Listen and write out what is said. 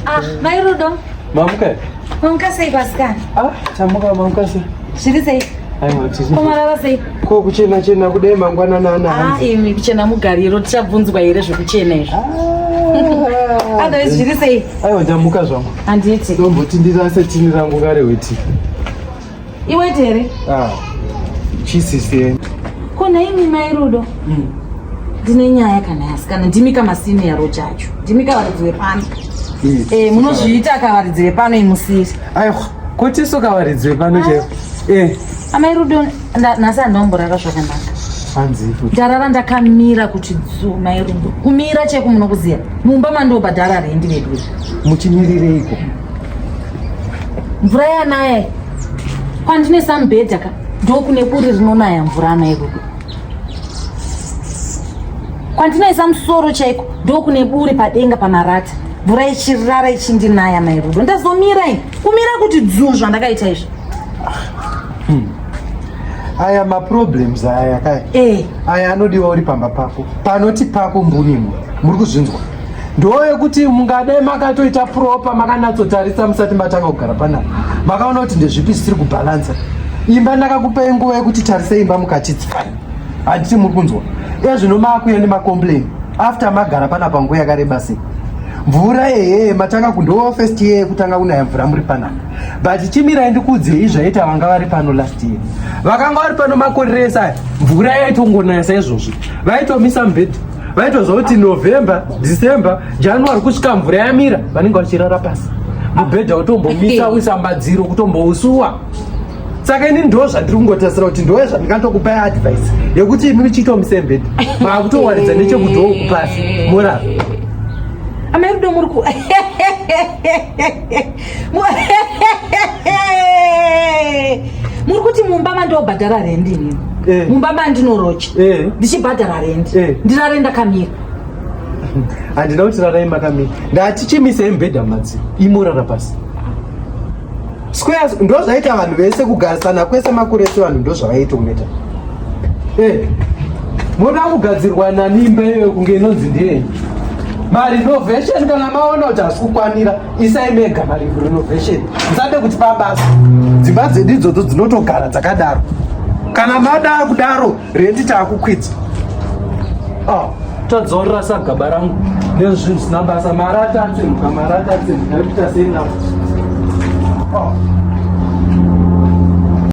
Ah, mai Rudo. Mamuka. Mamuka sei pasikana? Ah, chamuka mamuka sei? Zviri sei? Aiwa tiri. Komarara sei? Ko kuchena chena kudai mangwana nana. Ah, imi kuchena mugariro tichabvunzwa here zvekuchena izvo. Ah. Otherwise zviri sei? Aiwa ndamuka zvangu. Handiti. Ndomboti ndirase tini rangu kare weti. Iwe tere. Ah. Chisisi. Kona imi mai Rudo. Mm. Ndine nyaya kana yasikana ndimi kama senior rojacho. Ndimi kavaridzi wepano. Mm. Eh munozviita kavaridzi wepano imusiri. Ayo kuti so kavaridzi wepano ah. chero. Eh. Amai Rudo nhasi andomborara zvakanaka. Hanzi. Ndarara ndakamira kuti dzu mai Rudo. Kumira cheko munokuziya. Mumba mandobhadhara rendi vedu. Muchimirirei ko? mvura yanaya kwandine sambhedha ka ndokune buri rinonaya mvura anaya kuku kwandinoisa musoro chaiko ndokune buri padenga pamarata mvura ichirara ichindinaya mairudo ndazomira i kumira kuti dzuu zvandakaita izvi hmm. aya maproblems aya kai eh. aya anodiwa uri pamba pako panoti pako mbunimo muri kuzvinzwa ndoyekuti mungade makatoita propa makanatsotarisa musati matanga kugara panapa makaona kuti ndezvipi zvisiri kubhalansa imba ndakakupei nguva yekuti tarisei imba mukachitsi handiti muri kunzwa ezvino maakuya nemacomplain after magara panapa nguva yakareba sei mvura ehe matanga kundowa first year yekutanga kunaya mvura muri panapa but chimirai ndikuudzei zvaita vanga vari pano last year vakanga vari pano makoreresa mvura yaitongonaya saizvozvo vaitomisa mubhedha vaitozva kuti november december january kusvika mvura yamira vanenge vachirara pasi mubhedha utombomisa uisa madziro kutombousuwa saka ini ndo zvandiri kungotarisira kuti ndoye zvandikatokupai advice yekuti imi muchiita musembedi maakutowaridza nechekudhoo kupasi morara amai rudo muri ku muri kuti mumba mandobhadhara rendi inini Eh. mumba mandinorocha Eh. ndichibhadhara rendi Eh. ndirare ndakamira handina kuti rarai makamira ndati chimisei mubhedha madzi imorara pasi squares ndo zvaita vanhu vese kugarisana kwese makore ese vanhu ndo zvavaiita kuneta Eh, moda kugadzirwa nani imba iyoyo kunge inonzi ndiyenyu mari novation kana maona kuti hasi kukwanira isai mega mari renovation musade kuti pabasa dzimba dzedu idzodzo dzinotogara dzakadaro kana mada kudaro rendi taakukwidza ah, tadzorora sagaba rangu nezvinhu zvisina basa mari atatsemuka mari atatsemuka ekuita sei navo ah.